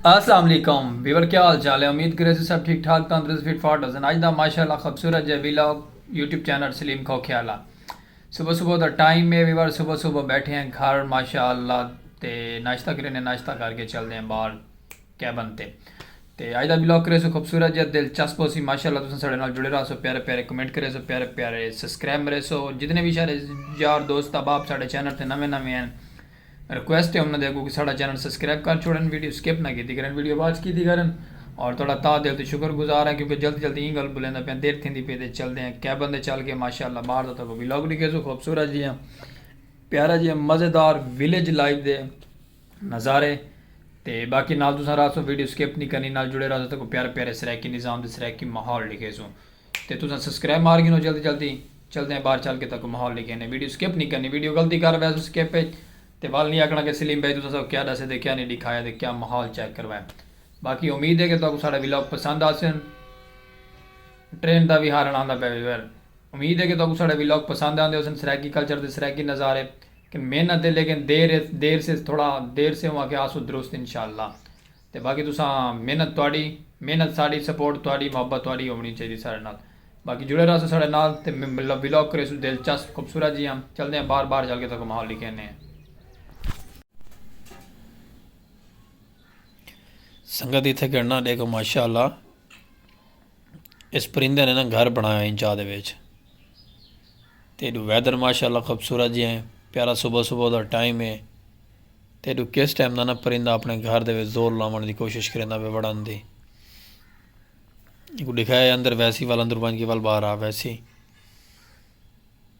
السلام علیکم ویور کیا حال چال ہے امید کرے سے سب ٹھیک ٹھاک تندرست فٹ فاٹ ہسن اج دا ماشاءاللہ خوبصورت جے vlog YouTube channel Saleem Khokhiala صبح صبح دا ٹائم ہے ویور صبح صبح بیٹھے ہیں گھر ماشاءاللہ تے ناشتہ کرے نے ناشتہ کر کے چل دے ہیں باہر کیبن تے تے اج دا بلاگ کریسو خوبصورت جیہا دلچسپ ہوسی ماشاءاللہ تساں ساڈے نال جڑے راہسو پیارے پیارے کمنٹ کریسو پیارے پیارے سسکرائب مریسو جتنے وی ساڈے یار دوست احباب ساڈے چینل تے نویں نویں ہن ریکویسٹ ہے انہاں دے اگوں کہ ساڈا چینل سسکرائب کر چھوڑن ویڈیو سکپ نہ کیتی کرن ویڈیو واچ کیتی کرن اور تہاڈا تہہ دل توں شکر گزار ہاں کیونکہ جلدی جلدی ایں گل بولیندا پیاں دیر تھیندی پئی تے چلدے ہاں کئے بندے چل گئے ماشاءاللہ باہر دا تہاکوں بلاگ ڈیکھیسو خوبصورت جیہا پیارا جیہا مزیدار ولیج لائف دے نظارے تے باقی نال تساں رہسو ویڈیو سکپ نی کرنی نال جڑے رہسو تے کوئی پیارے پیارے سرائیکی نظام تے سرائیکی ماحول لکھیسو تے تساں سبسکرائب مار گھنو جلدی جلدی چلدے ہیں باہر چل کے تاکو ماحول لکھینے ویڈیو سکپ نی کرنی ویڈیو غلطی کر ویسو سکپ اچ تے ول نی آکھنا کہ سلیم بھائی تساں ساکو کیا ڈسے تے کیا نی ڈکھایا تے کیا ماحول چیک کروائے باقی امید ہے کہ تاکو ساڈا ولاگ پسند آسن ٹرین دا وی ہارن آندا پے امید ہے کہ تاکو ساڈا ولاگ پسند آندے ہوسن سرائیکی کلچر تے سرائیکی نظارے کہ محنت ہے لیکن دیر ہے دیر سے تھوڑا دیر سے ہوں کہ آسو درست انشاءاللہ تے باقی تساں محنت تہاڈی محنت ساڈی سپورٹ تہاڈی محبت تہاڈی ہونی چاہیدی ساڈے نال باقی جڑے رہسو ساڈے نال تے ولاگ کریسو دلچسپ خوبصورت جیہاں چلدے ہیں باہر باہر چل کے تہاکوں ماحول ڈکھینے ہیں۔ سنگت اتھے گھننا ڈیکھو ماشاءاللہ۔ اس پرندے نے نا گھر بنایا ہن چاہ دے وچ تے ایڈو ویدر ماشاءاللہ خوبصورت جی ہیں پیارا صبح صبح دا ٹائم ہے تے ایڈو کس ٹائم دا نا پرندہ اپنے گھر دے وچ زور لاون دی کوشش کریندا پہ وڑن دی ایکو دکھایا اندر ویسی وال اندر بن کے وال باہر آ ویسی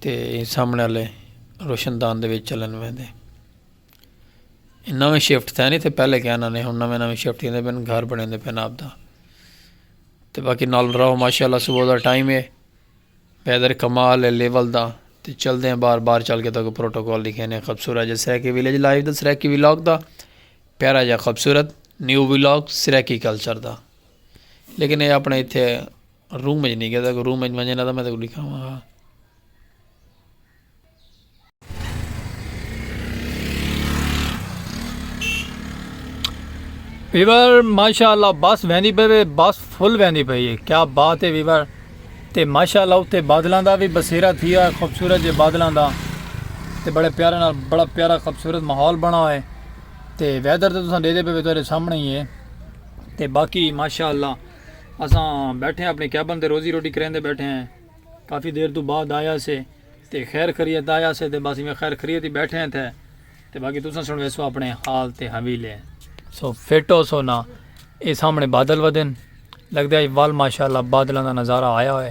تے ایں سامنے آلے روشن دان دے وچ چلن ویندے نویں شفٹ تھے نہیں تھے پہلے کیا نہ ہن نویں نویں شفٹ تھیندے پن گھر بنیندے پن آپ دا تے باقی نال رہو ماشاءاللہ صبح دا ٹائم ہے ویدر کمال ہے لیول دا تے چل دے ہیں بار بار چل کے تاکہ پروٹوکول لکھے نے خبصورت جا سریکی ویلیج لائیو دا سریکی ویلاگ دا پیارا جا خبصورت نیو ویلاگ سریکی کلچر دا لیکن اے اپنے ایتھے روم اچ نی گیدا کو روم اچ ونجے نا تاں میں تیکوں ڈکھاواں ہا۔ ویور ماشاء اللہ بس ویندی پئی وے بس فل ویندی پئی ہے کیا بات ہے ویور تے ماشاء اللہ اتنے بادلوں کا بھی بسیرا تھی ہے خوبصورت جے بادلوں کا تے بڑے پیارے نال بڑا پیارا خوبصورت ماحول بنا ہوئے تے ویدر تے تساں دے دے پے تیرے سامنے ہی ہے تے باقی ماشاء اللہ اساں بیٹھے ہاں اپنی کیبن تے روزی روٹی کریندے بیٹھے ہیں کافی دیر توں بعد آیا سے تے خیر خریت آیا سے تے بس ایویں خیر خریت ہی بیٹھے ہیں تھے تے باقی تساں سنویسو اپنے حال تے حویلے سو فٹ ہو سو نا اے سامنے بادل ودن لگدا ہے ول ماشاءاللہ بادلاں دا نظارہ آیا ہوئے۔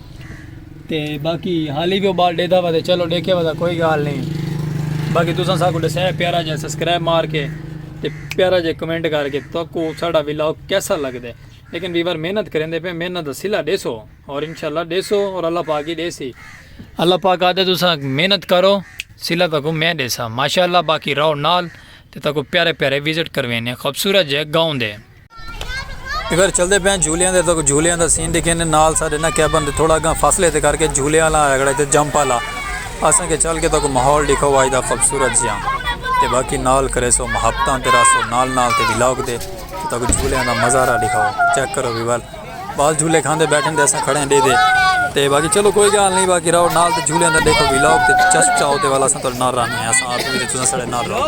تے باقی حالی وی او بال ڈیدھا وا تے چلو ڈیکھے وا دا کوئی گال نہیں باقی تساں ساکو ڈسے پیارا جے سبسکرائب مار کے تے پیارا جے کمنٹ کر کے تو کو ساڈا ولاگ کیسا لگ دے لیکن ویور محنت کریں دے پہ محنت دا سلا ڈے سو اور انشاءاللہ ڈے سو اور اللہ پاک ہی ڈے سی اللہ پاک آدھے تساں محنت کرو سلا تک میں ڈے سا ماشاءاللہ باقی راؤ نال تے تک پیارے پیارے وزٹ کروینے خوبصورت جے گاؤں دے اگر چلدے پئے آں جھولیاں دے تاں جھولیاں دا سین ڈیکھیں دے نال ساڈے نہ کیبن دے تھوڑا اگاں فاصلے تے کر کے جھولے آلا آیگڑا تے جمپ آلا اساں کے چل کے تاں کو ماحول ڈیکھو وائی دا خبصورت جیاں تے باقی نال کرے سو محبتاں تے راسو نال نال تے وی لاگ دے تے تاں کو جھولے آلا مزارہ ڈیکھو چیک کرو وی وال وال جھولے کھاندے بیٹھیں دے اساں کھڑے ہیں ڈے دے تے باقی چلو کوئی گال نہیں باقی راو نال تے جھولے آلا ڈیکھو وی لاگ تے چسپ چاہو تے والا اساں تاں نال رہنے ہیں اساں آپ بھی تے تساں ساڈے نال رہو۔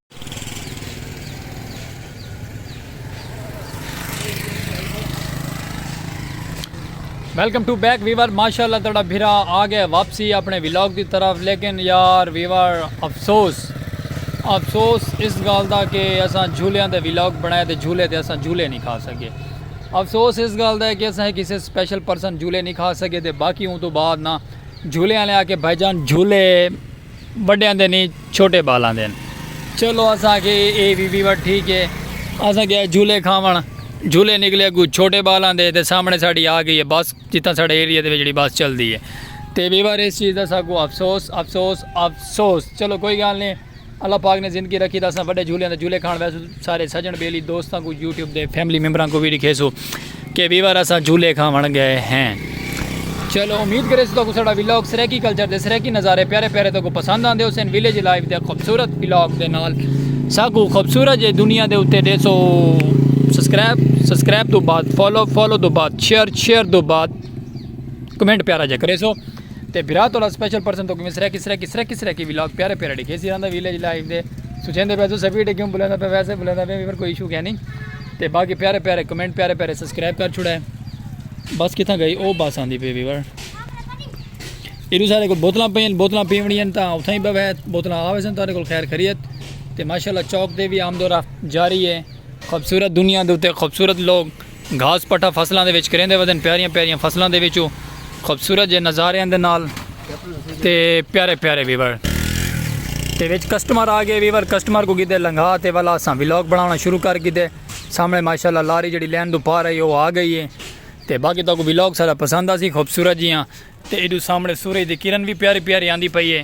ویلکم ٹو بیک ویور ماشاء اللہ تڑا بھرا آ گیا واپسی اپنے ولاگ دی طرف لیکن یار ویور افسوس افسوس اس گال دا کہ اساں جھولیاں دے ولاگ بنائے تے جھولے تے اساں جھولے نہیں کھا سکے افسوس اس گال دا ہے کہ اساں کسی سپیشل پرسن جھولے نہیں کھا سکے تے باقی ہوں تو بعد نا جھولے آنے آ کے بھائی جان جھولے وڈیاں دے نی چھوٹے بالاں دے ہن۔ چلو اساں آکھیے اے وی ویوٹ ٹھیک اے۔ اساں گئے جھولے کھاوݨ۔ جھولے نکلے اگوں چھوٹے بالاں دے تے سامݨے ساڈی آ گئی اے بس جتھاں ساڈے ایریے دے وچ جیڑھی بس چلدی اے۔ تے ویور اس چیز دا ساکوں افسوس افسوس افسوس۔ چلو کوئی گالھ نی اللہ پاک نے زندگی رکھی تاں اساں وڈے جھولیاں دے جھولے کھاوݨ ویسوں۔ سارے سجن بیلی دوستاں کو یوٹیوب دے فیملی ممبراں کو بھی لکھیسو کہ ویور اساں جھولے کھاون گئے ہیں چلو امید کرے سو تو سڑا ویلاگ سریکی کلچر دے سریکی نظارے پیارے پیارے تو کو پسند آندے حسین ویلیج لائف دے خوبصورت ویلاگ دے نال ساکو خوبصورت جے دنیا دے اتے دے سو سبسکرائب سبسکرائب تو بعد فالو فالو تو بعد شیئر شیئر تو بعد کمنٹ پیارا جے کرے سو تے بھرا تولا سپیشل پرسن توکی میں سریکی سریکی سریکی سریکی ویلاگ پیارے پیارے ڈیکھے سی راندا ویلیج لائف دے سوچیں دے پیسو سبھی ڈیکھیں بلیندا پہ ویسے بلیندا پہ میمر کوئی ایشو کیا نہیں تے باقی پیارے پیارے کمنٹ پیارے پیارے سبسکرائب کر چھوڑا ہے بس کتھا گئی او بس آندی پہ ویور ایرو سارے کو بوتلاں پہ ہیں بوتلاں پہ ہیں تا اتھا ہی بہ ہے بوتلاں آوے سن تارے کو خیر خریت تے ماشاءاللہ چوک دے بھی آمد و رفت جاری ہے خوبصورت دنیا دے تے خوبصورت لوگ گھاس پٹھا فصلاں دے وچ کریندے ودن پیاریاں پیاریاں فصلاں دے وچوں خوبصورت جے نظاریاں دے نال تے پیارے پیارے ویور تے وچ کسٹمر آ گئے ویور کسٹمر کو گدے لنگھا تے والا اساں ولاگ بناونا شروع کر گدے سامنے ماشاءاللہ لاری جڑی لین دو پار آئی او آ گئی ہے تے باقی تو کو ولاگ سارا پسند آسی خوبصورت جیاں تے ایڈو سامنے سورج دی کرن بھی پیاری پیاری آندی پئی ہے